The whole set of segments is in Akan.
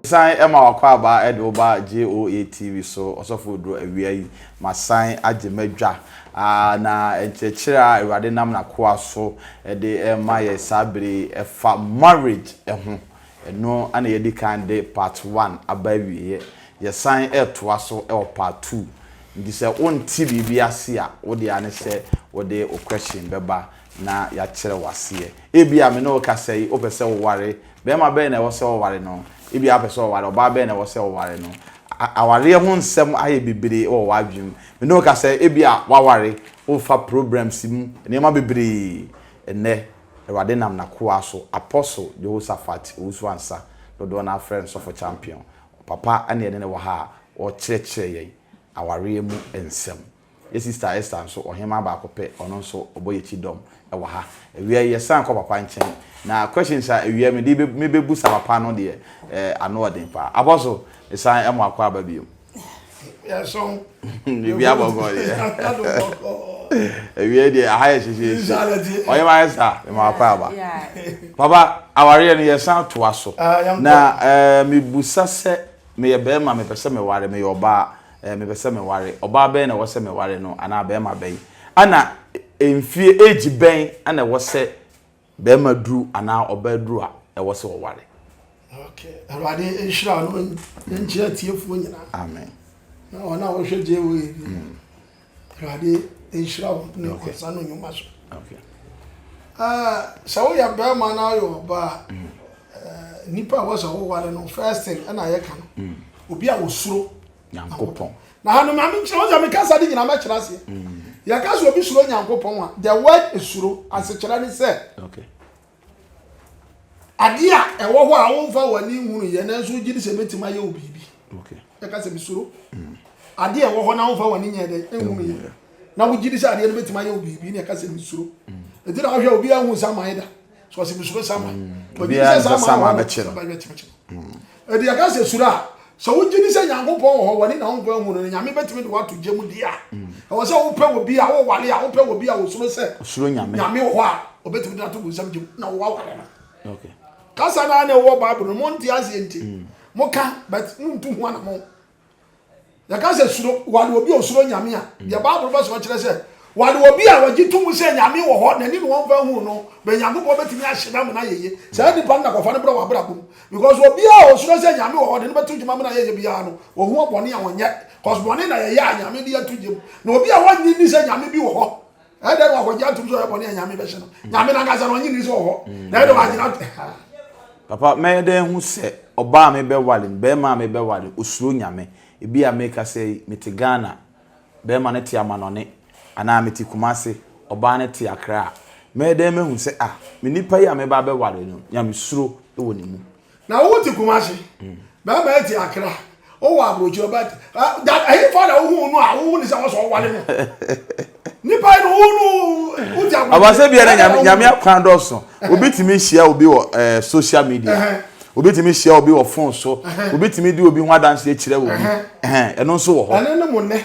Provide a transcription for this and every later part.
san ma wakɔ abaa ɛde wo ba JOA TV so ɔsɔfo oduro awia yi ma san agye madwa na nkyerɛkyerɛ a awurade nam n'akoa so ɛde ɛma yɛ saa bere ɛfa marriage ɛho Ɛno na yɛadi kan de part one aba awieɛ. Yɛsan retoa so wɔ part two. Nti sɛ wonte biribi ase a, wo deɛ ara ne sɛ wode wo question bɛba na yɛakyerɛ wo aseɛ. Ebia me ne wo kasa yi, wopɛ sɛ woware. Barima bɛn na ɛwɔ sɛ ɔware no? Ebia wopɛ sɛ ɔware. Ɔbaa bɛn na ɛwɔ sɛ ɔware no? Awareɛ ho nsɛm ayɛ bebree wɔ w'adwene mu. Me ne wo kasa yi, ebia woaware, worefa problems mu, nneɛma bebree nnɛ. Awurade nam N'akoa so, Apostle Jehoshaphat Owusu-Ansah, dodoɔ no ara frɛ no Sɔfo Champion. Papa na yɛne no wɔ ha a ɔkyerɛkyerɛ yɛn awareɛ mu nsɛm. Yɛ Sister Esther nso, ɔhemaa baako pɛ, ɔno nso ɔbɔ yɛn akyi dɔm wɔ ha. Awia yi yɛsan kɔ papa nkyɛn, na questions a awia mede mebɛbusa papa no deɛ, eh, ano ɔden paa. Apostle, mesan mo akɔ aba bio. yɛsɔn biribi abɔkɔ deɛ ɛwiɛ deɛ aha yɛ hyehyeehye ɔyɛ ma ayɛ saa ɛma akɔ aba papa awareɛ no yɛsan toa so na ɛɛ mebusa sɛ meyɛ bɛrima mepɛ sɛ meware meyɛ ɔbaa ɛɛ mepɛ sɛ meware ɔbaa bɛn na ɛwɔ sɛ meware no anaa bɛrima bɛn ɛna mfie age bɛn ɛna ɛwɔ sɛ Bɛɛma duru anaa ɔbaa duru a ɛwɔ sɛ ɔware. Ok awurade nhyira no nkyerɛ atiefoɔ nyinaa. Amen. Na wɔn a wɔhwɛ gye wɔ yɛ bi. Awurade nhyira wɔn ne wɔn nsa no nnwuma so. Okay. sɛ woyɛ bɛrima na ayɛ ɔba a nipa a wɔsɛ woware no first thing ɛna yɛka no obi a wɔsuro Nyankopɔn. Na hanom na menkyerɛ wo sɛ meka saa de nyina mɛkyerɛ aseɛ. Mm. Yɛka sɛ obi suro Nyankopɔn a, the word suro asekyerɛ ne sɛ. Okay. Adeɛ a ɛwɔ hɔ a womfa w'ani nhunu yɛ nanso wogye di sɛ bɛtumi ayɛ wo biribi. Okay. Yɛka sɛ mesuro. Mm. Adeɛ a ɛwɔ hɔ na womfa w'ani nyɛ dɛ nhunu yɛ. Na wogye di sɛ adeɛ no bɛtumi ayɛ wo biribi na yɛka sɛ mesuro. Mm. Ɛti na wohwɛ obi ahu sɛ amayɛ da. so ɔsi mi suro sama ɔgye sɛ sama a ɔbɛkye no ɛdi ɛka sɛ suro a sɛ wogye ni sɛ nyankopɔn wɔ hɔ wɔne na wonkɔ ahu no nyame bɛtumi de woato gya mu deɛ a ɛwɔ sɛ wopɛ wɔ bi a wowale a wopɛ wɔ bi a wosuro sɛ nyame wɔ hɔ a ɔbɛtumi de ato bu nsɛm gyem na wowawale no kasa no a na ɛwɔ bible no monte aseɛ nti moka but montu ho ana mo Yɛka sɛ suro, wɔade obi a osuro Nyame a, deɛ Bible bɛsoma kyerɛ sɛ, wɔade obi a wɔgye to mu sɛ Nyame wɔ hɔ, n'ani na wɔmfa nhu no, bɛn Nyankopɔn bɛtumi ahye no amena ayɛyie. Saa nipa no na kɔfa no brɛ w'abrabɔ mu. Because obiara a osuro sɛ Nyame wɔ hɔ de no bɛto gyem amena ayɛyie biara no, ohu ɔbɔne a ɔnyɛ. Cause bɔne na yɛyɛ a Nyame de ato gyem. Na obi a ɔnnye nni sɛ Nyame bi wɔ hɔ ɛdɛ no akɔgye atom sɛ ɔyɛ bɔne a nyame bɛhyɛ no nyame no ankasa no ɔnye nni sɛ ɔhɔ na ɛdɛ wagyina papa mɛyɛ dɛ hu sɛ ɔbaa a mebɛwale no bɛrima a mebɛwale osuro nyame ebi a meka sɛ mete ghana bɛrima no te amanɔne anaa mete kumase ɔbaa no te akra a mɛyɛ dɛ mahu sɛ ah me nipa yi a meba bɛwale no nyame suro wɔ ne mu Na wo te Kumasi, bɛrima yɛ te Akra, wowɔ aburokyi ɔba te that ɛyi fa na wohu no a wohu ne sɛ wɔsɔ ɔwale mu nipa yi no wo no wo te aburokyi. abasɛ bi yɛn nyame nyame akwan dɔɔso obi tumi hyia obi wɔ ɛɛ social media obi tumi hyia obi wɔ phone so obi tumi di obi ho adansi akyerɛ obi ɛhɛn ɛno nso wɔ hɔ. ɛne ne mo nɛ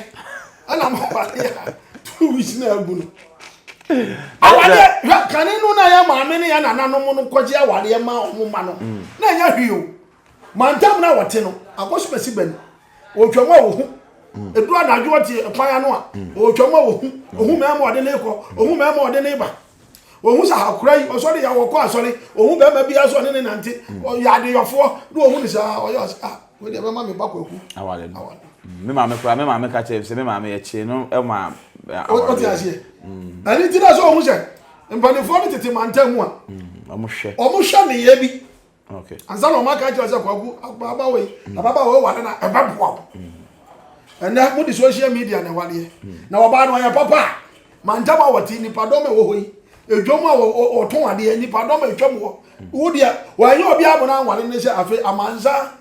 ɛna ma awale a two weeks na agu no awale hwɛ kane no na yɛ maame ne yɛ nananom no kɔgye awale ma ɔmo ma no mm. na ɛnyɛ hwee o mantam na wɔte no akɔsomasi bɛn ɔtwam a wɔhu mm. ɛduru anadwo ɔte ɛkwan ano a ɔtwam mm. a wɔhu ɔhu mɛma ɔde ne kɔ ɔhu mɛma ɔde ne ba Ohun sɛ akora yi ɔsɔre yɛ wɔkɔ asɔre ohun bɛrima bi asɔ ne ne nante ɔyɛ adeyɔfoɔ na ohun ne saa ɔyɛ ɔsɛ a wei deɛ bɛma me ba kwaku awale no me maame kora me maame ka kyerɛ sɛ me maame yɛkye no ma awale ɔte aseɛ ɛne ti na sɛ ohun sɛ mpanimfoɔ no tete mantam mu a ɔmo hwɛ ɔmo hwɛ ne yɛ bi okay ansa na ɔmo aka kyerɛ sɛ kwaku ababaawa yi mm. ababaawa yi ware na ɛbɛ boa wo mm. ɛnɛ mo de social media na ɛwadeɛ mm. na ɔbaa no ɔyɛ papa a mantam a wɔte nipadɔm a ɛwɔ hɔ yi edwom a wɔtɔn adeɛ nipadɔm a etwam hɔ wo deɛ wɔnyɛ obi abona anware ne sɛ afei amansa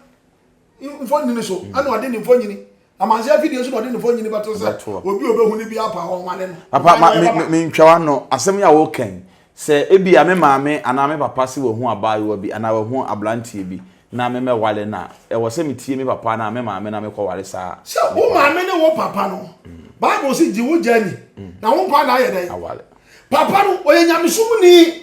mfonini so mm. ɛna ɔde ne mfonini amanse afidie so na ɔde ne mfonini bɛto sɛ obi a ɔbɛhu no bi apa hɔ nwale no papa mentwa wa no asɛm yi a wɔkɛn sɛ ebi a me maame anaa me papa se wɔhu abaayewa bi anaa wɔhu aberanteɛ bi na me mɛwale no a ɛwɔ sɛ metie me papa anaa me maame na mekɔware saa sɛ wo maame ne wo papa no mm. bible se gye wo gya ni mm. na wo nkwa na ayɛ dɛn papa no ɔyɛ nyamesomni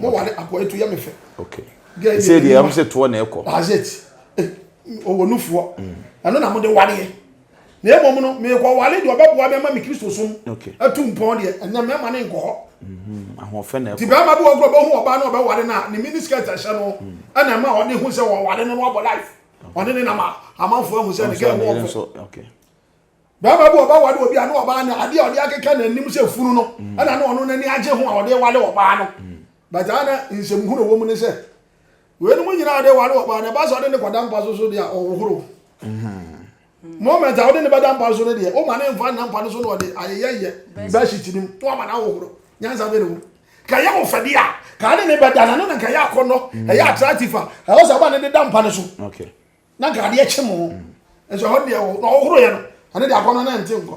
mo wale akɔ etu yɛ me fɛ okay gɛ sɛ deɛ ɛm sɛ toɔ na ɛkɔ azet ɔwɔ nufoɔ ɛno na mo de waleɛ na mmom no meekɔ wale deɛ ɔbɛboa me ama me kristo som atu mpɔn deɛ ɛnɛ mɛma ne nkɔ hɔ nti bɛrima bi wɔkorɔ bɛhu ɔbaa na ɔbɛwale no a ne mini skirt ɛhyɛ no ɛna ɛma ɔde hu sɛ wɔwale no no abɔ life ɔne ne nam a amanfoɔ ahu sɛ ne gɛ wɔ Barima bi a ɔba ware obi a na ɔbaa no adeɛ a ɔde akeka n'anim sɛ funu no mm. ɛna na ɔno n'ani agye ho a ɔde ware ɔbaa no mm. but a na nsɛm hunu wɔ mu ne sɛ weinom nyinaa ɔde ware ɔbaa no ɛba sɛ ɔde ne kɔda mpa so so deɛ a ɔhohoro mm-hmm. moment a wode ne bɛda mpa so no deɛ woma ne mfa nna mpa no so na ɔde ayeyɛyɛ bɛhyit no mu na wama no ahohoro nyansa bɛ ne ho ka yɛ wo fɛdeɛ a ka ne ne bɛda na no na nka yɛ akɔnnɔ ɛyɛ attractive a ɛwɔ sɛ ɔba ne de da mpa no so Na nkrade akyɛ mu nso ɛhɔ deɛ na ɔhoro yɛ no ɛne deɛ akɔnɔ na ɛnte nkɔ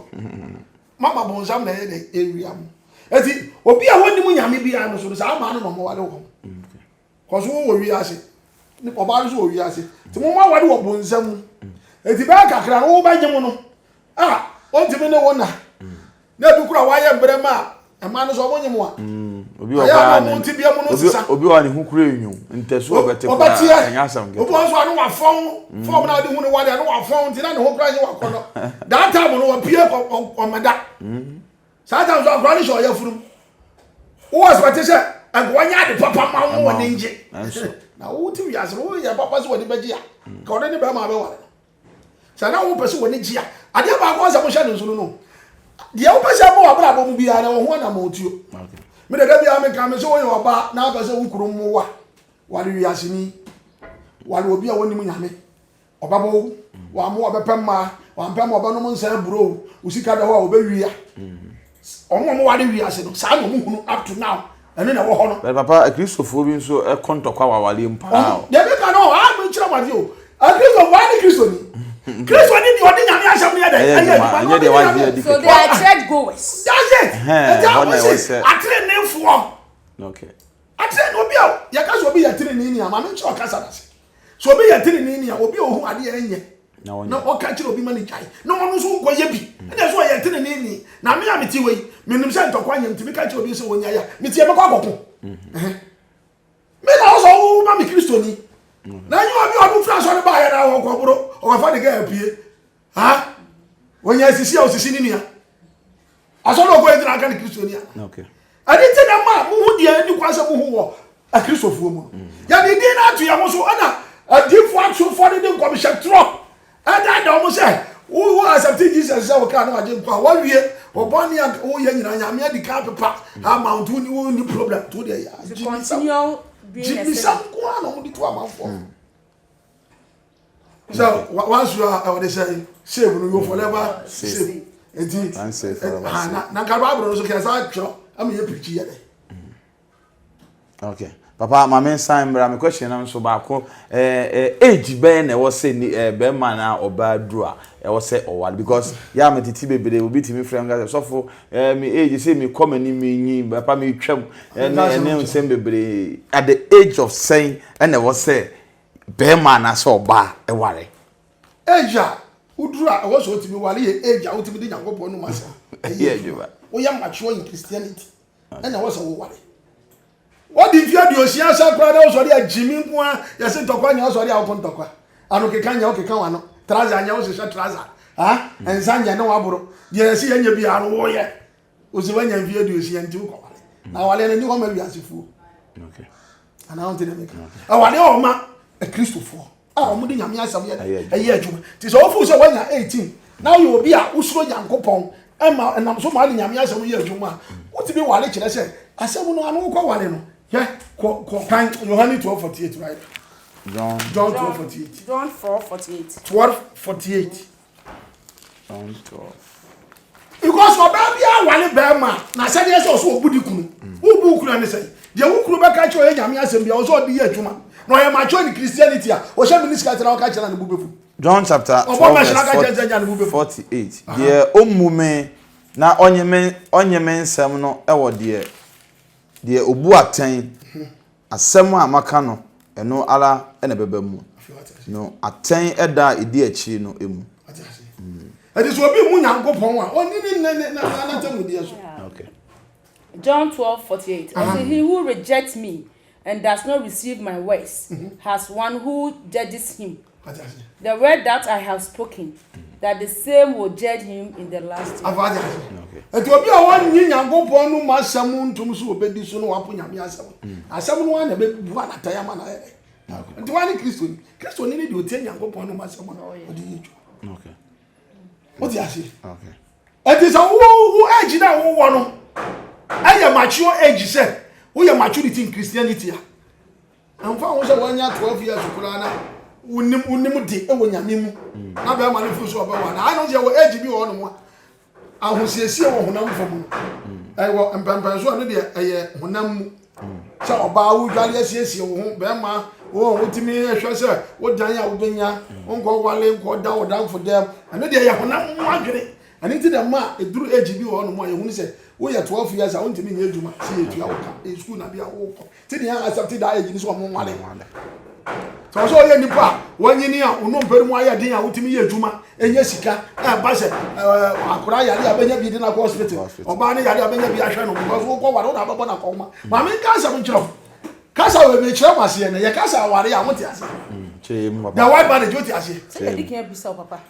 mama bonsam na ɛyɛ dɛ ɛwia mu ɛti obi a wɔnim nyame bi a no so no saa maa no na ɔmɔwale wɔ mu kɔso wɔ wɔ wiase ne ɔbaa no so wɔ wiase nti mo mɔwale wɔ bonsam mu ɛti bɛyɛ kakra no wobɛgye mo no a ɔntumi ne wo na na ebi kora wayɛ mbrɛ ma a mmaa no so ɔmo nye mu a ayɛ a ɔmo nti bia mu no nsesa obi wa ne ho kura enyo ntɛso ɔbɛte kora ɛnyɛ asɛm kɛtɛ obi wa nso ano wafɔn fɔm na ɔde hu ne wade ano wafɔn nti na ne ho kura nye wakɔ no that time no ɔpie ɔmɛda saa time so akora ne hyɛ ɔyɛ funu wo wɔ sɛ ɔte sɛ ɛgowa nyɛ ade papa ma wo wɔ ne ngye na wo ti wiase no wo yɛ papa sɛ wɔde bɛgye a ka ɔde ne bɛrima bɛware no Sɛ na wopɛ sɛ w'ani gye a, adeɛ baako a sɛ mohyɛ no nso no no, deɛ wopɛ sɛ ɛbɔ w'abrabɔ mu biara na wɔn ho anamɔtuo. Me dada biara meka me sɛ woyɛ ɔbaa na apɛ sɛ wo kunu mmoa wale wiaseni, wale obi a wɔnim nyame, ɔbɛbɔ wo, wammoa ɔbɛpɛ mmaa, wampɛ mma ɔbɛnom nsa aburo wo, wo sika da hɔ a ɔbɛwia. Wɔn a wɔware wiase no, saa na wɔhunu up to now. Ɛno na ɛwɔ hɔ no. Bɛn papa, akristofoɔ bi nso kɔ ntɔkwa wɔ awareɛ mu paa o. Deɛ meka no, ɔha a menkyerɛ mo adeɛ o. Akristofoɔ, wɔn ne kristoni. Kristoni deɛ ɔde nyame asɛm no yɛ dɛ. Ɛyɛ adwuma, ɛnyɛ deɛ wagye adi kɛkɛ. So they are church goers. That's it. Ɛti a wɔn se ateneneefoɔ. Okay. Atenenee obi a yɛka sɛ obi yɛ atenenee ni a, ma menkyerɛ ɔkasa no ase. Sɛ obi yɛ teneneeni a, obi a ohu adeɛ a ɛnyɛ na ɔka kyerɛ obi ma ne gyae na ɔno nso nkɔyɛ bi mm. ɛna sɛ ɔyɛ teneneeni na me a mete hɔ yi menim sɛ ntɔkwa nyɛ nti meka kyerɛ obi sɛ ɔnya yɛ a meteɛ mɛkɔ akɔko mm-hmm. me na wo sɛ woma me kristoni mm-hmm. na nyɛ obi ɔno firi asɔre baayɛ na ɔkɔboro ɔkɔfa ne gɛ apue ha wɔnyɛ asisi a ɔsisi ne nua asɔre ɔkɔ yɛ gyina aka ne kristo ni a ɛne nti na ma mohu deɛ ɛni kwan sɛ mohu wɔ akristofoɔ mu no mm. yɛde din no ato yɛ ho so ɛna adiifoɔ asofoɔ no de nkɔmhyɛ torɔ ɛda da wɔn sɛ wo wo asɛpte jesus sɛ wɔkaa no agye nkwa wɔwie wɔbɔ ne a woyɛ nyinaa nyame adi ka pepa ama wo to ne wo ni problem to deɛ yɛ gyibisam gyibisam ko a na wɔde to amanfoɔ mm. sɛ wansu a ɔde sɛ save no yɛ forever save nti na nka bible no so kɛ saa twerɛ ama yɛ pirikyi yɛ dɛ okay papa maame nsan mmra me question no nso baako eh, eh, age bɛyɛ na ɛwɔ sɛ eh, bɛrima na ɔbaa duru a ɛwɔ sɛ ɔware because yɛ a metete bebree obi tumi frɛ m gasɛ sɔfo eh, me age sɛ mekɔ m'ani menyi papa metwam ɛne nsɛm bebree at the age of sɛn ɛna ɛwɔ sɛ barima anaasɛ ɔbaa ware. Age a woduru a ɛwɔ sɛ wotumi ware yɛ age a wotumi de Nyankopɔn nom asɛm yɛ adwuma. Woyɛ mature in Christianity ɛna ɛwɔ sɛ woware. Wadi mfe aduosia asa koraa na wosɔre a gyimi nko a yɛse ntɔkwa nyɛ wosɔre a woko ntɔkwa. Ano keka nyɛ wokeka wano. Trouser nyɛ wohyehyɛ trouser. Ah, nsa nyɛ ne waboro. Deɛ yɛse yɛnyɛ biara no woyɛ. Ose wanya mfe aduosia nti wokɔ awale. Mm. Na awale no ni hɔ ma wiasefoɔ. Okay. Ana wonte deɛ meka. Awale wɔ hɔ ma akristofoɔ a wɔn de nyame asɛm yɛ ɛyɛ adwuma. Ti sɛ wofu sɛ wanya 18 na woyɛ obi a wosoro Nyankopɔn ɛma ɛnam so ma de nyame asɛm yɛ adwuma a wotumi wale kyerɛ sɛ asɛm no ano wokɔ wale no hwɛ kɔ kɔ kan Yohane 12:48 right. John John 12:48. John 4:48. 12:48. because ɔbaa bi awale bɛrima na asɛdeɛ sɛ ɔsɛ ɔbu di kunu wobu kunu ne sɛ deɛ wo kunu bɛka kyerɛ ɔyɛ nyame asɛm bia ɔsɛ ɔde yɛ adwuma na ɔyɛ matwɛ ne christianity a ɔhyɛ mene sika tena ɔka kyerɛ ne bo bɛfu john chapter 12 48 deɛ ɔmmu me na ɔnye me nsɛm no wɔ deɛ deɛ ɔbu atɛn Asɛm a maka no, ɛno ara na ɛbɛba mu. No, atɛn da a ɛdi akyiri no mu. Wate aseɛ? Mm. Ɛde sɛ obi mu Nyankopɔn a, ɔnni ne nna ne na n'atemmudeɛ so. Yeah. Okay. John 12, 48. Uh-huh. Ɔsɛ, He who rejects me and does not receive my words mm-hmm. has one who judges him. The word that I have spoken, that the same will judge him in the last day. Afa adi ase. Eti obi a wɔnyi Nyankopɔn no mu asɛm ntom so obedi so no wapo Nyame asɛm. Mm. Asɛm no ara na ɛbɛbu anatɛn ama no ayɛ dɛ. Nti wɔn ne Kristoni. Kristoni ne deɛ ɔtie Nyankopɔn no mu asɛm no oh, ɔde yɛ adwuma. Wote ase? Eti sɛ wowo age na wowɔ no ɛyɛ mature age sɛ woyɛ maturity in Christianity a Ɛmfa ho sɛ wanya 12 years koraa na wonim wonim de wɔ nyame mu na bɛrima no firi so ɔbɛwɔ anaa ayɛ no sɛ yɛwɔ age bi wɔ hɔnom a ahosiesie wɔ honam fam no ɛwɔ mpɛmpɛn so ɛno deɛ ɛyɛ honam mu sɛ ɔbaa wodwale asiesie wo ho bɛrima wɔn wotumi ɛhwɛ sɛ wodan a wobɛnya nkɔ wale nkɔ da ɔdanfo dɛm ɛno deɛ yɛ honam mu adwene ɛno nti dɛ ma ɛduru age bi wɔ hɔnom a yɛhunu sɛ woyɛ 12 years a wontumi nyɛ adwuma sɛ yɛtua wo ka ɛyɛ sukuu na bia wokɔ Ti ni a asɛm ti daa yɛ gyini sɛ ɔmo nwale. Sɛ ɔsɛ ɔyɛ nipa a wɔnyini a ɔno mpɛrɛ mu ayɛ den a wotumi yɛ adwuma ɛnyɛ sika ɛba sɛ akora yare a bɛnya bi de na kɔ hospital ɔbaa ne yare a bɛnya bi ahwɛ no because wokɔ ware wo na abɛbɔ na kɔma maame nka asɛm nkyerɛ wo kasa wɔ ebi kyerɛ mo aseɛ na yɛ kasa aware a wote aseɛ mm, the white marriage wote aseɛ. sɛ yɛde kan abisa wo papa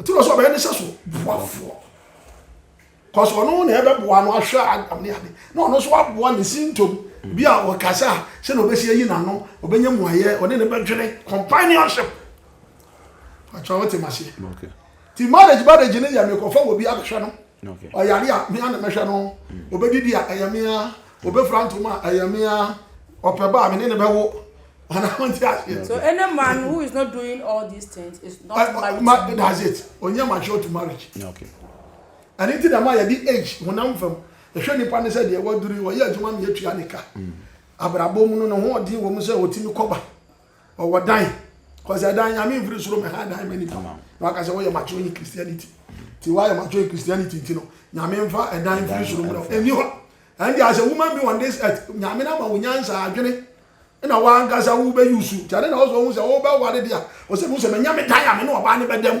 nti na sɛ ɔbɛyɛ ne sɛ so boafoɔ kɔs ɔno na ɛbɛboa no ahwɛ adam ne ade na ɔno nso aboa ne sintom mm. bi a ɔkasa a sɛ na ɔbɛsi ayi n'ano ɔbɛnya mu ayɛ ɔne ne bɛdwene companionship atwa wote maseɛ nti marriage marriage ne yɛ mekɔfa wɔ bi abɛhwɛ no ɔyare a mea na mɛhwɛ no ɔbɛdidi a ɛyɛ mea ɔbɛfira ntom a ɛyɛ mea ɔpɛ ba a me ne ne bɛwo anaa mo nti aseɛ so any man who is not doing all these things is not eh, married ma, that's it ɔnyɛ mature to marriage okay. ɛne nti na ma yɛde age honam fam ɛhwɛ nipa ne sɛ deɛ waduru ɔyɛ adwuma ma yɛtua ne ka mm. abrabɔ mu no ne ho ɔden wɔ mu sɛ ɔtumi kɔba ɔwɔ dan kɔsɛ ɛdan nyame mfiri soro mɛ ha dan mɛ nipa na waka sɛ wɔyɛ mature in christianity ti wɔayɛ mature in christianity nti no nyame mfa ɛdan mfiri soro mɛ ɛni hɔ ɛnde as a woman being on this earth nyame na ma wo nyansa adwene na wankasa wo bɛ yusu ti ade na ɔsɛ ɔhu sɛ wo bɛ wale deɛ ɔsɛ mu sɛ mɛ nyame dan a mɛ ne ɔbaa ne bɛ dɛm.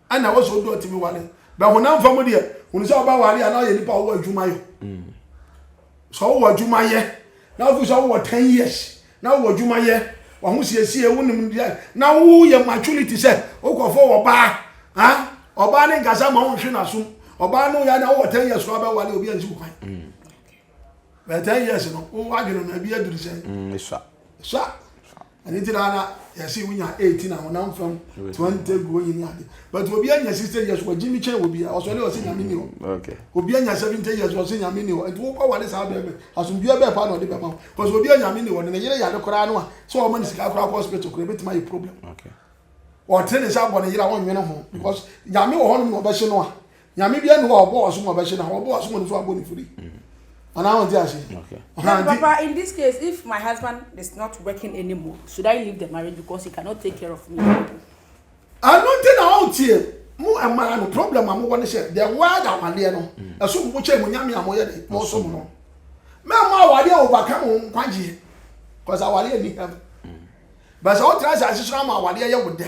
Ɛna ɛwɔ sɛ ɔdɔ tumi ware bɛ honam fam deɛ hunu sɛ ɔba ware a na ɔyɛ nipa ɔwɔ adwuma yɔ sɛ ɔwɔ adwuma yɛ na wofi sɛ ɔwɔ ten years na ɔwɔ adwuma yɛ waho siesie wonim deɛ na woyɛ maturity sɛ wokɔfo wɔ baa ha ɔbaa ne nkasa ma wonhwe n'asom ɔbaa no yɛ na ɔwɔ ten years koraa bɛware obi ansi wo kwan bɛ ten years no woadwene no ebi aduru sɛ mm, sa sa Ɛno nti na na yɛse wonya 18 a honam fam 20 gu onyi ne ade but obi anya 60 years wɔgye me kyɛn wɔ bia ɔsɔre ɔse nyame ni hɔ mm, obi anya 70 years ɔse nyame ni hɔ nti wokɔ wale saa bɛɛbɛ asomdua bɛɛ paa na ɔde bɛma wo because obi anya nyame ni hɔ ne ne yere yare koraa no a sɛ ɔma ne sika koraa kɔ hospital koraa ɛbɛtumi ayɛ problem ɔte ne nsa abɔ ne yere a ɔnwene ho because nyame wɔ hɔnom na ɔbɛhye no a nyame bia ne hɔ a ɔbɔ waso mu abɛhye na ɔbɔ waso mu no so abɔ ne firi anaa wɔn ti ase. na papa in this case if my husband is not working anymore should I leave the marriage because he cannot take care of me. ɛno nti na ɔn tie mo ɛmaa no problem a mo wɔ ne sɛ the word awadeɛ no ɛso mo kyɛ mo nyame a mo yɛ de mo so mo no mɛ mo awadeɛ overcome mo nkwagyeɛ cause awadeɛ ni hɛm bɛsɛ o tena sɛ asesoro ama awadeɛ yɛ wo dɛ.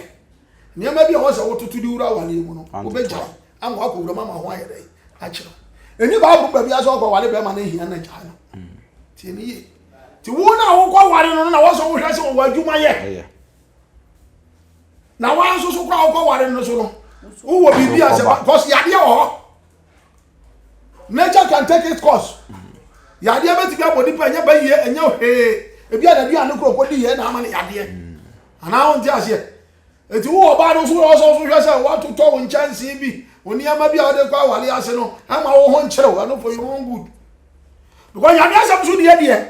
Nneɛma bi a wɔn sɛ wototo de wura awareɛ mu no, wobɛgyae ama wakɔ wuram ama ho ayɛ dɛn akyerɛ wo. Ɛni Bible baabi a sɛ ɔkɔ ware bɛrima no ahia na gyae no. Tie ne yie. Ti wo na wokɔ ware no na wɔsɛ wohwɛ sɛ wɔwɔ adwuma yɛ. Na wɔn nso so kora wokɔ ware no so no, wowɔ biribi a sɛ kɔsi yadeɛ wɔ hɔ. nature can take its course yadeɛ bɛtumi abɔ nipa ɛnyɛ ba yie ɛnyɛ hwee ebi a nadu ano koro kɔdi yɛ na ama no yadeɛ anaa wɔn ti aseɛ eti wo ɔbaa no nso wɔn nso nso hwɛ sɛ wɔatotɔ wɔn nkyɛnsee bi wɔn nneɛma bi a wɔde kɔ awale ase no ɛma wɔn ho nkyerew ɛno for your own good because yadeɛ asɛm so deɛ deɛ.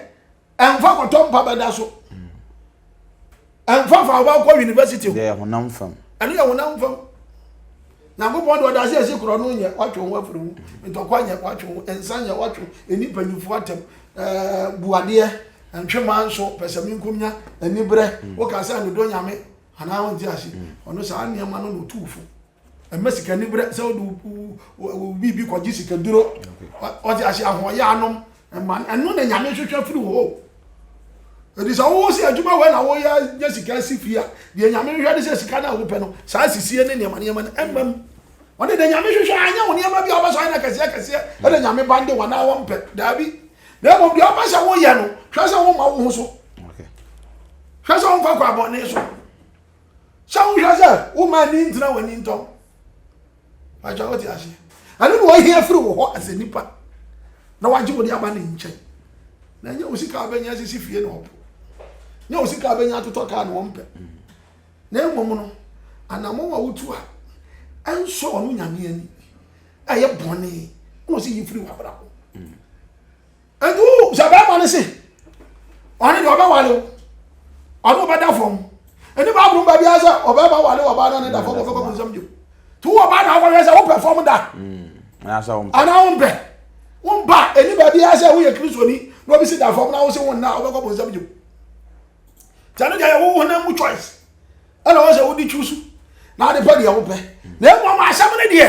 ɛnfa kɔtɔ mpa bɛda so ɛnfa fa ɔba kɔ university o yɛ honam fam ɛno yɛ honam fam nyankopɔn de ɔda ase ɛsi korɔ no nyɛ watwe ho afiri ho ntɔkwa nyɛ watwe ho nsa nyɛ watwe ho ɛni mpanyinfoɔ atɛm ɛɛ buadeɛ ntwema nso pɛsɛmi nkumnya anibrɛ mm. woka sɛ nodɔ nyame anaa wonte ase mm. ɔno saa nneɛma no na ɔtu fo Mma sika ni berɛ sɛ wode wo biribi kɔgye sikaduro ɔde ahyɛ ahoɔyɛ anom mma ɛno na nyame hwehwɛ firi hɔ ɛdi sɛ wowo sɛ adwuma wei na woyɛ nya sika si fie a deɛ nyame hwehwɛ de sɛ sika no a wopɛ no saa sisie ne nneɛma nneɛma no ɛmma mu ɔne deɛ nyame hwehwɛ anyɛ wo nneɛma bi a wobɛsɔ ayɛ no kɛseɛ kɛseɛ ɛna nyame ba nde wɔn a wɔmpɛ daabi na mmom deɛ wopɛ sɛ woyɛ no hwɛ sɛ woma wo ho so hwɛ sɛ womfa kɔ abɔne so Sɛ wohwɛ sɛ woma ani ntena w'ani ntɔm. Agya wote aseɛ. Ɛno na ɔhia firi wo hɔ asɛ nipa na wagye wode aba ne nkyɛn. Na ɛnyɛ wo sika abɛnya sisi fie na ɔpo. Nyɛ wo sika abɛnya atotɔ kaa na ɔmpɛ. Na mmom no, anamɔn a wotu a ɛnsɔ ɔno nyame ani ɛyɛ bɔne na ɔsi yi firi w'abrabɔ. nti wo sɛ bɛrima no se ɔne deɛ ɔbɛwale wo ɔne ɔbɛda fam ɛne baabolo ba biara sɛ ɔbɛrima wale ɔbaa na ne da fam ɔfɛ kɔkɔ nsɛm bio nti wo ɔbaa na akɔhwɛ sɛ wopɛ fam da anaa wompɛ wompa ɛne baabiara sɛ woyɛ kristoni na obi se da fam na wo se wo nna wobɛkɔ bonsɛm bio nti ɛno deɛ yɛwo honam mu choice ɛna wɔn sɛ wodi twusu na ade pɛ deɛ wopɛ na emu ama asɛm no deɛ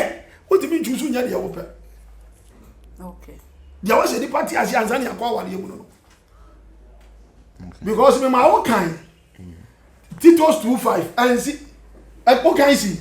wotumi ntwusu nyɛ deɛ wopɛ deɛ wɔn sɛ nipa te ase ansa ne akɔ awadeɛ mu no because mi ma wo kan titos two five ɛnsi ɛkó kan si.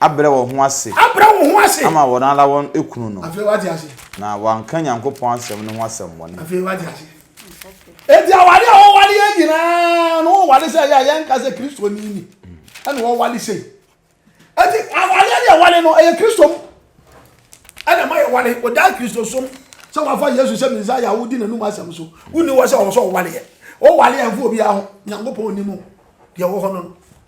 Abrɛ wɔn ho ase. Abrɛ wɔn ho ase. Ama wɔn ara wɔn kunu no. Afei wate ase. Na wɔanka Nyankopɔn asɛm no ho asɛmmɔne. Afei wate ase. Enti aware a wɔware yɛ nyinaa no, wɔware sɛ ɛyɛ a yɛnka sɛ Kristoni ni ɛna wɔware sei. Enti awareɛ ne yɛware no, ɛyɛ Kristo mu ɛna ma yɛware. Wɔdaa Kristosom sɛ wɔafa Yesu sɛ Mesaia a wodi n'anum asɛm so. Wonni hɔ sɛ ɔwɔ sɛ ɔwareɛ. Wowareɛ ɛmfa obiara ho, Nyankopɔn nim o, deɛ ɛwɔ hɔ no no.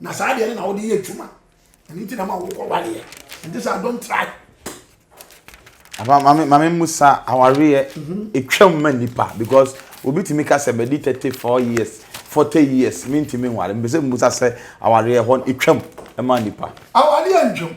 na saa deɛ no na wode yɛ adwuma ɛno nti na ma wokɔ wareɛ ɛnte sɛ adom try mame musa awareɛ ɛtwam ma nnipa because obi tumi ka sɛ madi 34 years 40 years mentumi nware mpɛ sɛ musa sɛ awareɛ hɔ ɛtwam ma nnipa awareɛ ntwam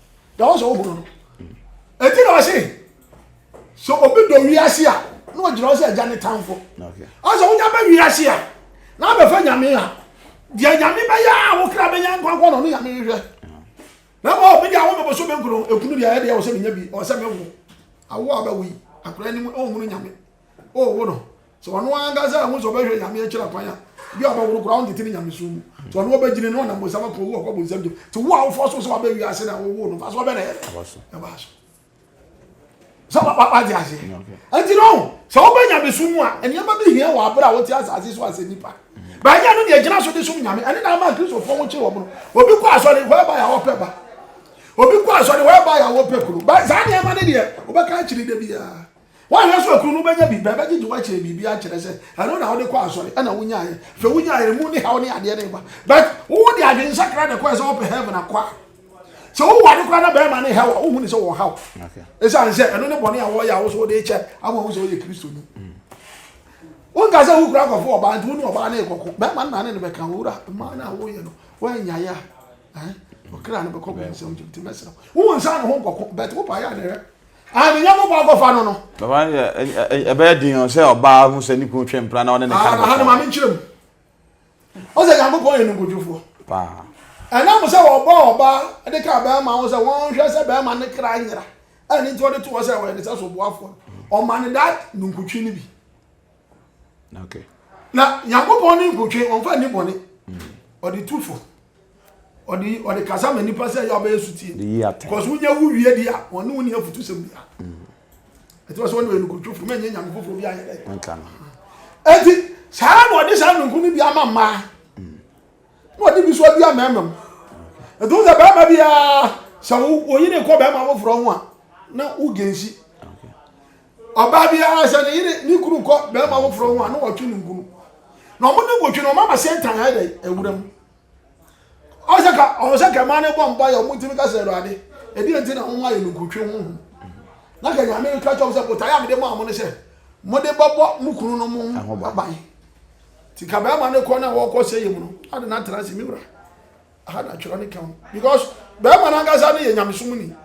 deɛ wɔn sɛ wɔn hunu no eti na ɔse sɛ obi dɔ wiase a na ɔgyina hɔ sɛ agya ne tanfo ɔsɛ wonya bɛ wiase a na abɛfa nyame a deɛ nyame bɛyɛ a wo kra bɛnya nkwankwa na ɔno nyame hwehwɛ na ma ɔbi deɛ awo bɛbɔ so bɛnkuro ekunu deɛ ɛdeɛ ɔsɛ menya bi ɔsɛ mɛwo awo a bɛwo yi akora anim ɔnhunu nyame ɔwo no Sɛ ɔno ankasa anhu sɛ ɔbɛhwɛ Nyame akyiri akwan a, bi a ɔbɛworo koraa ɔntete ne nyamesom mu. Sɛ ɔno ɔbɛgyina na ɔnam bonsam akɔ wu akɔ bonsam gyam. Te wo a wofɔ so sɛ waba wiase na wowoo no mfaso ɔbɛ na ɛyɛ dɛ ɛbaa so. Sɛ wagye aseɛ. Nti no sɛ wobɛ nyamesom mu a nneɛma bi hia wɔ abere a wote asase so asɛ nipa. Bɛnyɛ no deɛ gyina so de som Nyame. Ɛne na ama Kristofoɔ ho kye wɔ mono. Obi kɔ asɔre hɔ ɛba yɛ a ɔpɛ ba. Obi kɔ asɔre hɔ ɛba yɛ a ɔpɛ kuro. Saa nneɛma no deɛ wobɛka akyiri da biara. Woanhwɛ so a kunu no bɛnya biribi abɛgyegye wo akyerɛ biribi akyerɛ sɛ ɛno na wode kɔ asɔre ɛna wonyaeɛ. Hwɛ wonyaeɛ ɛmu ne haw ne adeɛ no reba but wo de adwensakra na ɛkɔɛ sɛ wopɛ heaven akɔ a sɛ woware koraa na bɛrima ne haw a wohu ne sɛ wɔn haw ɛsiane sɛ ɛno ne bɔne a wɔyɛ a wo so wode kyɛ ama wo sɛ woyɛ kristoni mm. wonka sɛ wokura akɔfo ɔbaa nti wo ne ɔbaa ne kɔko bɛrima no na ne no bɛka wowura mmaa no a woyɛ no woanyaeɛ a ɔkra no bɛkɔ bɛnsɛm gyim nti mɛsrɛ wo nsa ne ho nkɔko but wopa yɛ a ne hwɛ Ah, ne nyɛnko kwan kɔfa no no. Baba yɛ ɛbɛyɛ den ɔ sɛ ɔbaa ho sɛ ne kunu twɛn mpira na ɔne ne ka no. Aha no maame nkyerɛ mu. Ɔsɛ Nyankopɔn yɛ nkontrofo. Paa. Ɛnam sɛ wɔbɔ ɔbaa de ka bɛrima ho sɛ wɔnhwɛ sɛ bɛrima ne kra nyera. Ɛne nti ɔde to hɔ sɛ ɔyɛ ne sɛ soboafoɔ no. Ɔma no that nunkutwi no bi. okay na nyankopɔn ne nkotwe ɔmfa nni bɔne ɔde tu fo ɔde ɔde kasa ma nipa sɛ yɛ ɔbɛyɛ sutie because wonya wo wie di a ɔne wo ne afutu sɛm bia ɛti wɔ sɛ wɔne ɔyɛ nkotwe fo mɛnyɛ nyame foforɔ bi ayɛ dɛ ɛti saa na ɔde saa nonko no bi ama mmaa na ɔde bi so adu amɛɛma mu ɛti wo sɛ bɛrima biara sɛ woyi ne nkɔ bɛrima foforɔ ho a na wogensi Ɔbaa biara sɛ ne yere ne kunu kɔ bɛrima foforɔ ho a na wɔtwe no nkunu. Na wɔn ne wɔtwe no wɔn ama Satan ayɛ dɛ awura mu. Ɔsɛ ka ɔsɛ ka mmaa no bɔ mpa yɛ wɔn ntumi ka sɛ awurade ɛdi nti na wɔn ayɛ no nkutwe ho ho. Na ka nyame ka kyɛm sɛ botaeɛ a mede maa mo no sɛ mode bɛbɔ mo kunu no mo ho aban. Ti ka bɛrima no kɔ na wɔkɔ sɛ yɛ mu no ade na atena ase me wura. Aha na atwerɛ no ka ho because bɛrima no ankasa no yɛ nyamesom ni.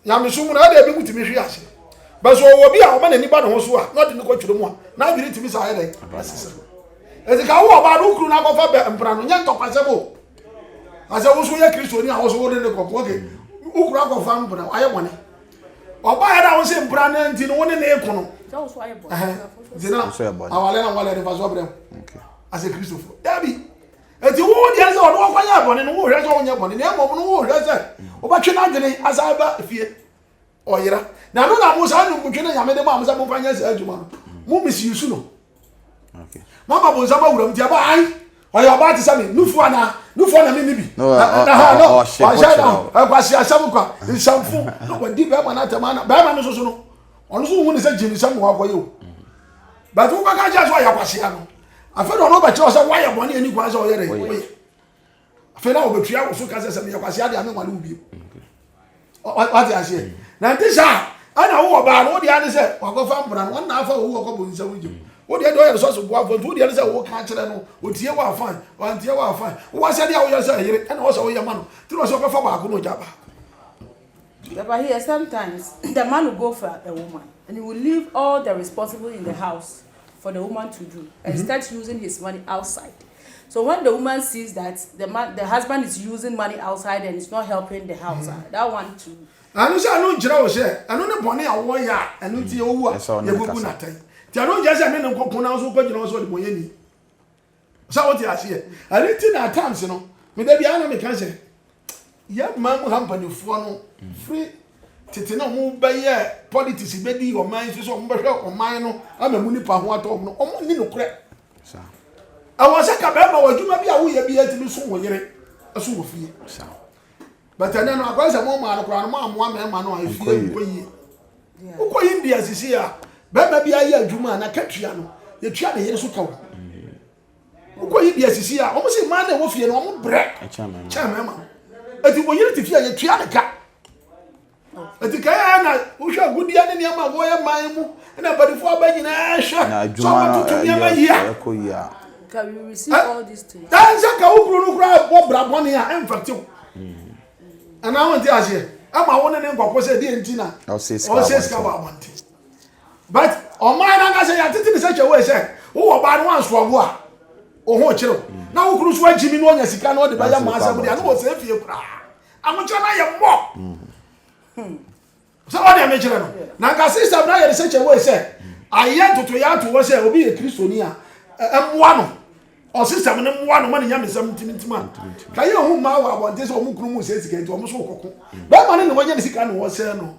Nyamesom mu no, ɛda ebinom tumi hwe ase. But sɛ ɔwɔ bi a ɔma n'ani ba ne ho so a, na ɔde no kɔ twerɛ mu a, n'adwene tumi saa yɛ dɛn? Ɛsesa. Ɛti ka wo ɔbaa no kuru no akɔfa bɛ mpena no, nyɛ ntɔkwasɛm o. Asɛ wo so yɛ Kristoni a wo so wo ne ne kɔkɔ, okay. Wo kuru akɔfa mpena, ayɛ bɔne. Ɔbaa yɛ da wo se mpena no nti no wo ne ne ko no. Nti na awale na awale ne fa so brɛ wo. Asɛ Kristofo. Dabi. Enti wo deɛ ne sɛ ɔde wo kɔyɛɛ bɔne no, wohwɛ sɛ wonyɛ bɔne, na mmom no wohwɛ sɛ wobɛtwe n'adwene asan ba fie. Ɔyera. Na ɛno na mo saa nimuntwe no Nyame de maa mo sɛ momfa nyɛ saa adwuma no. Mo misuse no. Mama bonsam awuram nti ɛbɔ han. Ɔyɛ ɔbaa te sɛ me, nufoɔ anaa? Nufoɔ na menni bi. Ɔhyɛ no nkwasi asɛm kwa, nsɛmfo, na wadi bɛrima no atɛm ana. Bɛrima no soso no, ɔno nso wohu ne sɛ gyimi sɛm na wakɔyɛ o. But wobɛka kyerɛ sɛ ɔyɛ kwasea no. afei na ɔno ɔbɛkyerɛ wo sɛ woayɛ bɔne ani kwan sɛ ɔyɛ dɛn woyɛ afei na ɔbɛtua wo so ka sɛ sɛ meyɛ kwasea deɛ ame nwale wo bio wate aseɛ na nte sɛ a ɛna wowɔ baa no wodeɛ ne sɛ wakɔfa mbra no ɔnna afa owu ɔkɔbɔ nsɛm no gyem wodeɛ deɛ ɔyɛ sɛ so boafoɔ nti wodeɛ ne sɛ woka akyerɛ no ɔtie wɔ afan ɔantie wɔ afan wowɔ asɛdeɛ a woyɛ sɛ ɛyere ɛna wɔ sɛ woyɛ ma no nti na ɔsɛ ɔbɛfa baako na ɔgya baako But here, sometimes the man will go for a woman and he will leave all the responsible in the house. for the woman to do and mm-hmm. start using his money outside. So when the woman sees that the man, the husband is using money outside and it's not helping the house, mm-hmm. uh, that one too. ɛno sɛ ɛno nkyerɛ wo sɛ ɛno ne bɔne a wɔyɛ a ɛno nti yɛwowu a yɛbɛbu natɛn nti ɛno nkyerɛ sɛ ne ne nkɔko na nso wokɔgyina wo sɛ ɔde bɔyɛ ni So wote aseɛ? Ɛno nti na at times no, me da biara na meka sɛ, yɛ man mu ha mpanimfoɔ no firi tete na wɔbɛyɛ politics bɛdi ɔman yi so sɛ wɔbɛhwɛ ɔman no ama mu nipa ho atɔ wɔn no, wɔn nni nokorɛ. Ɛwɔ sɛ ka bɛrima wɔ adwuma bi a woyɛ bi atumi so wo yere so wɔ fie. But ɛnɛ no akɔyɛ sɛ mo maa no koraa no mo amoa mmarima no a efi yɛ nkɔ yie. Wokɔ yi India sisi a bɛrima bi ayɛ adwuma a na katua no yɛtua ne yere so ka wo. Wokɔ yi India sisi a wɔn si mmaa na ɛwɔ fie no wɔn brɛ kyɛn mmarima no. Eti oyere te fie a yɛtua ne ka. Eti kan ara na wohwɛ agudeɛ ne nneɛma a wɔyɛ man mu na mpanimfoɔ aba nyinaa hwɛ sɛ wɔatoto nneɛma yie a. Ɛn sɛ ka wo kuru no koraa bɔ bra bɔne a ɛmfɛtew. Anaa hmm. wonte aseɛ ɛma wo ne ne nkɔkɔ sɛ deɛ nti na ɔsɛ sika wɔ abɔnten. But ɔman no ankasa yɛatete ne sɛ kyɛ wei sɛ wowɔ baa no wansoa wo a wo ho kyerɛw hmm. na wo kuru so agyimi na ɔnya sika na ɔde bɛyɛ ma asɛm deɛ na wɔsɛ fie koraa. Amokyerɛ no ayɛ mmɔ. Hmm. Sɛ wɔde amekyerɛ no, na nka sista bi ayɛ de sɛ kyɛwee sɛ ayɛ ntotoyɛ ato hɔ sɛ obi yɛ kristoni a ɛmmoa no ɔsesɛm no mmoa no ma ne nyamesɛm ntimintim a ka yɛ hu mmaa wɔ abɔnten sɛ wɔn kunu mu sɛ sika nti wɔn so kɔko bɛrima no na wɔnya ne sika na wɔsɛe no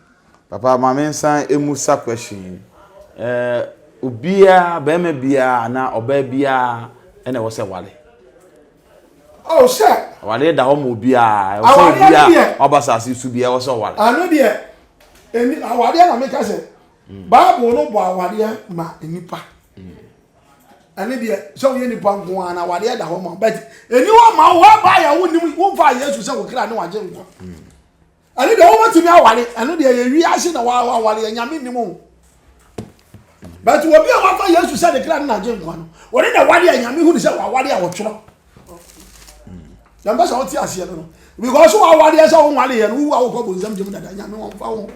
Papa ma me nsan mmusa question yi. Ɛɛ obiara bɛrima biara anaa ɔbaa biara ɛna ɛwɔ sɛ wale. Oh sɛ. Awadeɛ da hɔ ma obiara. Ɛwɔ sɛ obiara ɔba saase so biara ɛwɔ sɛ ɔwale. Ano deɛ ɛni awadeɛ na meka sɛ hmm. Bible no bɔ awadeɛ ma nipa. Hmm. Ɛne deɛ sɛ woyɛ nipa nko ara na awadeɛ da hɔ ma but ɛni hɔ ma wo hɔ ɛbaa yɛ wo nim wo nfa Yesu sɛ wo kra ne wagye nkwa. Hmm. Ɛno deɛ wobɛtumi aware ɛno deɛ yɛ wiase na waware yɛ nyame nnim o but obi a wafa yesu sɛ ne kra ne nagye nkwa no wɔne na ware a nyame hu ne sɛ waware a wɔtwerɛ yɛmpɛ sɛ wote aseɛ no no because wawareɛ sɛ wonwareɛ no wowu a wokɔ bonsam gyem dada nyame wɔmfa wo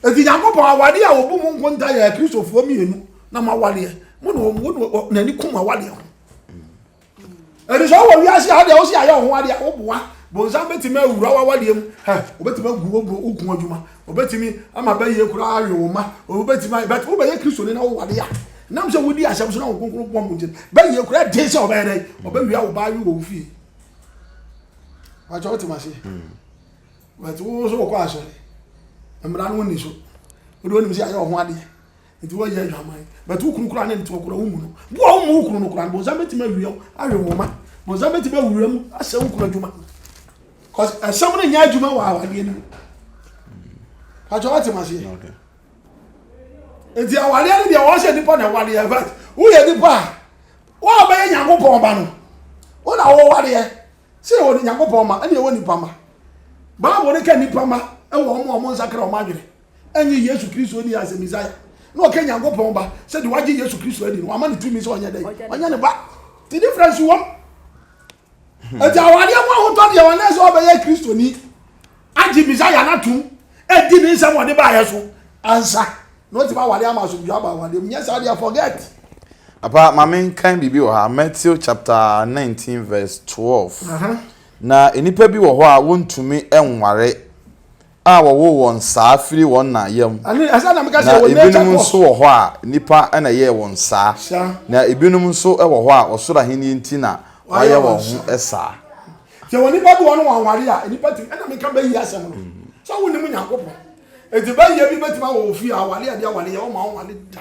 ɛti nyankopɔn awareɛ a wɔbu mu nkonta yɛ akristofoɔ mmienu na mawareɛ mo na n'ani kum awareɛ ho ɛde sɛ wowɔ wiase ha deɛ wo sɛ ayɛ wo ho adeɛ a woboa bonsam bɛtumi awura wawadeɛ mu wobɛtumi agu woku adwuma wobɛtumi ama bɛyɛ koraa awe wo ma wobɛtumi but wobɛyɛ kristoni na wowade a nam sɛ wodi asɛm so na wo kronkron boa mu nkyɛn bɛyɛ koraa den sɛ ɔbɛyɛ dɛn ɔbɛwia wo baa wi wɔ wo fie wakyɛ wotem aseɛ but wo so wokɔ asɔre mmara no wonni so wode wonim sɛ ayɛ wo ho adeɛ Enti wɔnyɛ adwaman. But wo kunu koraa ne ntew koraa wommu no. Bo a wommɔ wo kunu no koraa no, bonsam betumi awia wo, awe wo mma. Bonsam betumi awura mu ahyɛ wo kunu adwuma. Cause ɛsɛm no nyɛ adwuma wɔ awadeɛ no mu. Pakyɛ wate maseɛ. Enti awadeɛ no deɛ wɔhyɛ nipa na ɛwadeɛ but woyɛ nipa a wɔabɛyɛ Nyankopɔn ba no. Wo na wɔwadeɛ. Sɛ ɛwɔ ne Nyankopɔn ma ɛne ɛwɔ nipa ma. Bible no ka nipa ma ɛwɔ wɔn a wɔnsakra wɔn adwene. ɛnyɛ Yesu Kristo ni as a Messiah. Na ɔka Nyankopɔn ba sɛ de wagye Yesu Kristo adi no wama ne tumi sɛ ɔnyɛ dɛ ɔnyɛ ne ba. Ti difference wɔm. Ɛti hmm. awadeɛ mu ahotɔ deɛ wɔn sɛ ɔbɛyɛ Kristo ni agye Messiah no atom ɛdi ne nsɛm ɔde baayɛ so ansa na ɔtumi awade ama asomdwa aba awadeɛ mu nyɛ saa deɛ forget. Apa maame nkan biribi wɔ ha Matthew chapter nineteen verse twelve. Uh -huh. Na nnipa bi wɔ hɔ a wɔntumi nware a wɔwoo wɔn saa firi wɔn na yam, na ebinom nso wɔ hɔ a, nnipa na ɛyɛɛ wɔn saa, na ebinom nso wɔ hɔ a, ɔsoro ahenni nti na wɔayɛ wɔn ho saa. Yɛwɔ nnipa bi wɔn wɔn aware a nnipa tumi ɛna meka bɛyi asɛm no sɛ wonim Nyankopɔn eti bɛyɛ bi bɛtumi awɔ ofie aware a bi aware yɛ wɔn ma wɔn ware da.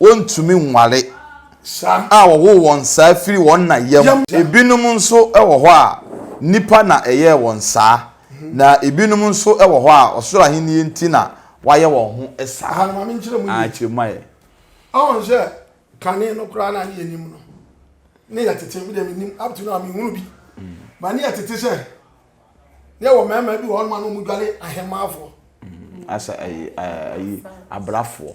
Wɔntumi nware a wɔwoo wɔn saa firi wɔn na yam. Ebinom nso wɔ hɔ a, nnipa na ɛyɛɛ wɔn saa, na ebinom nso wɔ hɔ a, ɔsoro Ahenni nti na wɔayɛ wɔn ho saa. Kyerɛ mu ayɛ. Ɔn sɛ kane no koraa na ne yɛ nim no ne yɛ tete me deɛ me nim up to now me hunu bi ba ne yɛ tete sɛ ne yɛ wɔ mɛɛma bi wɔ hɔ noma no mu dwale ahemaafoɔ asa ayi ayi abrafoɔ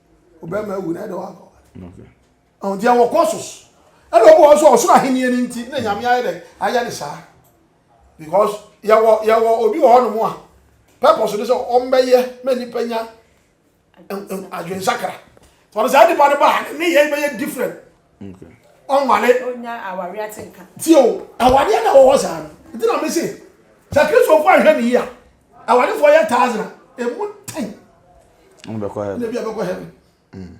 ɔbɛrima awu na ɛde wakɔ ɔn deɛ wɔ kɔsos ɛna ɔbɔ wɔn so ɔsoro ahenni ni nti na nyame ayɛ dɛ ayɛ ne saa because yɛwɔ yɛwɔ obi wɔ hɔ nom a purpose ne sɛ ɔmbɛyɛ ma nipa nya adwensakra wɔn saa nipa no ba ne yɛ bɛyɛ different ɔnware tio awadeɛ na wɔwɔ saa no nti na mese sɛ kristofoɔ anhwɛ ne yi a awadefoɔ yɛ thousand a ɛmu ten na bi abɛkɔ heaven mm.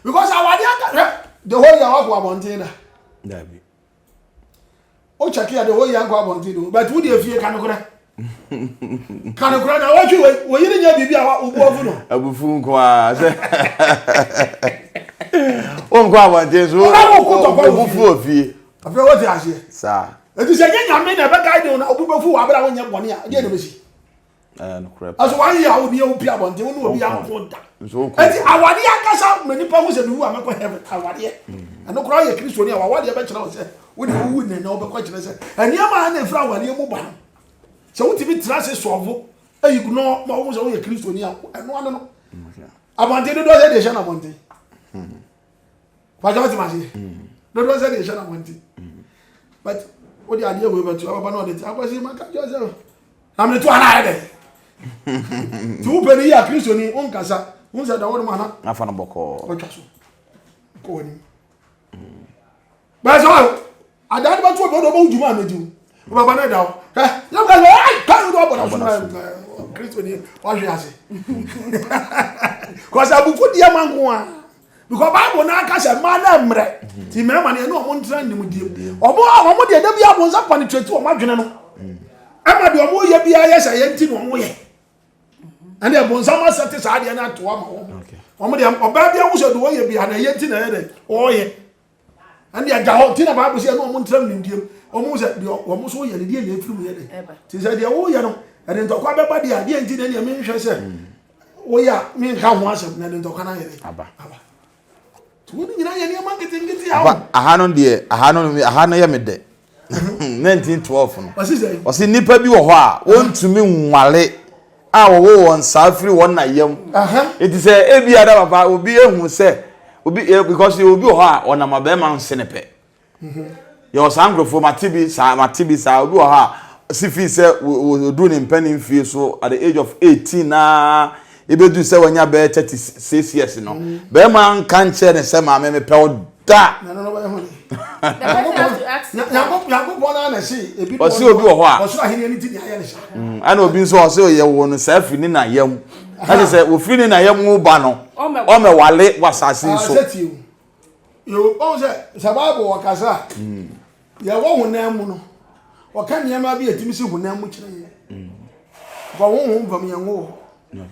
because awadeɛ ankahwɛ the whole year wakɔ abɔnten da o check ya de o ya nkɔ abɔnten do but wo deɛ fie ka nokorɛ ka nokorɛ na wɔtwe wei wo yere nyɛ biribi a wo bo afu no abufu nko a sɛ wo nkɔ abɔnten so wo bo fu wɔ fie afei wote aseɛ saa ɛti sɛ nyɛ nyame na ɛbɛ guide wo na obi bɛfu wɔ abere a wonyɛ bɔne a deɛ na bɛsi ɛso wayɛ a wode wopi abɔnten wo ne obi anko da ɛti awadeɛ ankasa ma nipa ho sɛ mewu a mɛkɔ heaven awadeɛ mm. ɛno koraa yɛ kristoni a wawadeɛ bɛkyerɛ wo sɛ wode wowu nnɛ na wobɛkɔ kyerɛ sɛ ɛnneɛma a na ɛfiri awadeɛ mu ba no sɛ wotumi tena ase sɔɔvo ɛyi gunɔ ma wohu sɛ woyɛ kristoni a ɛno ano no abɔnten dodoɔ sɛ deɛ ɛhyɛ no abɔnten hmm. Pàṣẹ ọtí màṣẹ. Dodo ẹsẹ deɛ ẹhyẹ na wọn ti. But o de adeɛ wei bɛtu ababa náà ọdẹ ti akɔsi ma kájọ ẹsẹ o. Na mi tu ana ayɛ dɛ. Ti wo pɛ ni yí akristo ni o nkasa o nsɛ da wɔn mu ana. N'afa no bɔkɔɔ. Ɔtwa so kɔ wɔn ni. Bẹ́ẹ̀ sọ Adaa no bɛto ɔbɛdɔ ɔbɛwo dwuma a medi wo. Wobɛba no ɛda wo. Hwɛ, na wobɛka sɛ, ai, ka no abɔ n'asom na Kristo ni, wahwe ase. Kɔsɛ abufu deɛ ma nko a. Because Bible no aka sɛ mmaa no mmerɛ. Ti mmarima no ɛne ɔmo ntena nimdie. Ɔmo a ɔmo deɛ da bi abo nsa panitrɛti ɔmo adwene no. Ɛma deɛ ɔmo yɛ biara yɛ sɛ yɛn ti na ɔmo yɛ. Ɛne ɛbo nsa ma sɛ te saa deɛ no ato ama wɔn. Ɔmo deɛ ɔbaa bi awo sɛ deɛ ɔyɛ biara na ɛyɛ ti na ɛyɛ dɛ ɔyɛ. ɛnde ɛda hɔ nti na bible sɛ ɛne ɔmo ntram nimdeɛm ɔmo sɛ deɛ ɔmo nso yɛ no deɛ na ɛfiri mu yɛ dɛ nti sɛ deɛ woyɛ no ɛde ntɔkwa bɛba deɛ a deɛ nti na ɛneɛ menhwɛ sɛ mm. woyɛ a menka ho asɛm na ɛde ntɔkwa no ayɛ dɛ aba nti wei no nyinaa yɛ nneɛma nketenkete a aha no deɛ aha no aha no yɛ me dɛ 1912 no ɔsi nipa bi wɔ hɔ a wɔntumi nwale a wɔwɔ wɔn saa firi wɔn na yam eti sɛ ebi ada papa obi ehu sɛ obi eh, because yɛ obi wɔ hɔ a ɔnam abɛɛma nse ne pɛ mhm. yɛ wɔ saa nkurɔfoɔ mate bi saa mate bi saa obi wɔ hɔ a si fi sɛ odu ne mpɛn ne mfie so at the age of 18 naa Ebeduu sɛ wanya bɛyɛ thirty six years no, barima anka nkyerɛ no sɛ maame mepɛ wo da. Ɔse obi wɔ hɔ a. Mm, ɛna obi nso ɔse ɔyɛ wɔ no saa firi ne na yam. Ɛte sɛ ofiri ne na yam wo ba no, ɔmɛwale wɔ asase nso. Ɔhu sɛ sɛ Bible wɔ kasa a, mm. Yɛwɔ honam mu no, wɔka nneɛma bi a ɛtumi si honam mu kyerɛ yɛn. Fa honhom fam yɛn wɔ hɔ.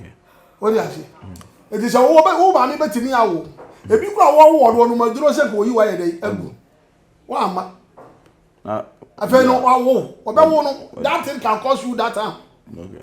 Wode ase? Ɛti sɛ wo maame bɛtumi awo. Ebi kora wɔwɔ no ɔnom aduro sɛ ka oyi wayɛ dɛ agu. Wamma. Afei no wawo. Ɔbɛwo no. That thing can cause you that harm. Okay.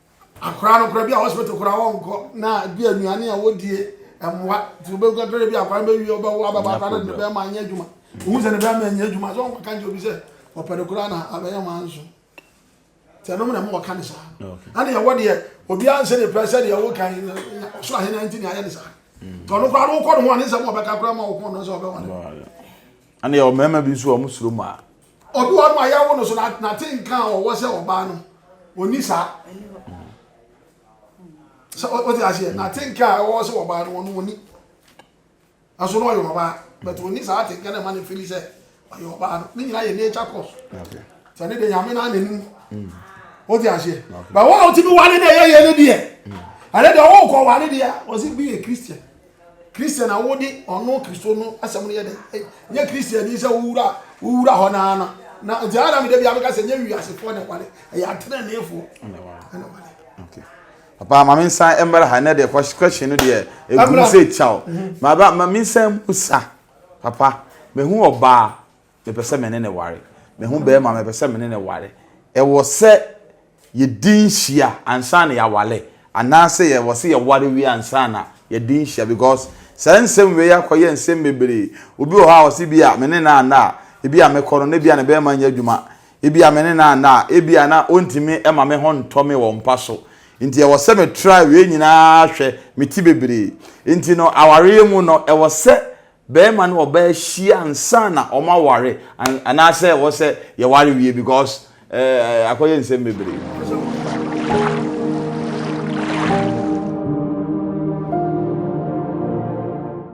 Akwadaa no koraa bi a hospital koraa wɔnkɔ na bi a nnuane a wɔdie mmoa nti wobɛhu kakra bi akwadaa no bɛwie ɔbɛwo abɛba akwadaa no de ne bɛrima anyɛ adwuma wohu sɛ ne bɛrima anyɛ adwuma sɛ ɔnka nkyɛ obi sɛ ɔpɛ no koraa na abɛyɛ ma nso sɛ ɛnom na ma wɔka ne saa ɛne yɛwɔ deɛ obiara nsɛ ne pɛ sɛ deɛ woka ɔsoro ahena nti ne ayɛ ne saa mm. nti ɔno koraa no wokɔ ne ho a ne nsɛm ɔbɛka koraa ma wo ho no sɛ ɔbɛwa no ɛne yɛwɔ mmarima bi nso a ɔmo suro mu a Obiwɔ hɔ no a yɛwo no so na nate nka a ɔwɔ sɛ ɔbaa no ɔni saa sɛ ɔte aseɛ nate nka a ɔwɔ sɛ ɔbaa no ɔno ɔni ɛso no ɔyɛ ɔbaa but ɔni saa ate nka na ɛma no fili sɛ ɔyɛ ɔbaa no ne nyinaa yɛ nature course sɛ ne de nyame no anani ɔte aseɛ but wɔn a ɔtumi wale na ɛyɛ yɛ no deɛ ɛne deɛ ɔwɔ kɔ wale deɛ ɔsi bi yɛ christian Christian a wode ɔno Kristo no asɛm no yɛ dɛ. Nyɛ Christian ni sɛ wowura wowura hɔ naa na na nti ara na mede bia meka sɛ nyɛ wiasefoɔ na ɛwale ɛyɛ ateneneefoɔ na ɛwale. Okay. Papa ma me nsan mmra ha na deɛ question no deɛ ɛgu sɛ kyaw. Mhm. Ma ba ma me nsan musa. Papa mehu ɔbaa Mepɛ sɛ me ne no ware. Mehu barima a mepɛ sɛ me ne no ware. Ɛwɔ sɛ yɛdi nhyia ansa na yɛaware anaasɛ ɛwɔ sɛ yɛware wie ansa na yɛadi nhyia? Because saa nsɛm wei akɔyɛ nsɛm bebree. Obi wɔ hɔ a ɔse bi a me ne no anna a, ebi a mɛkɔ no na ebi a ne barima nyɛ adwuma. Ebi a me ne no anna a, ebi a na ɔntumi ma me ho ntɔ me wɔ mpa so. Nti ɛwɔ sɛ me try wei nyinaa hwɛ, mete bebree. Nti no awareɛ mu no ɛwɔ sɛ barima ne ɔbaa hyia ansa na wɔn aware anaasɛ ɛwɔ sɛ yɛware wie because ɛɛ eh, akɔyɛ nsɛm bebree.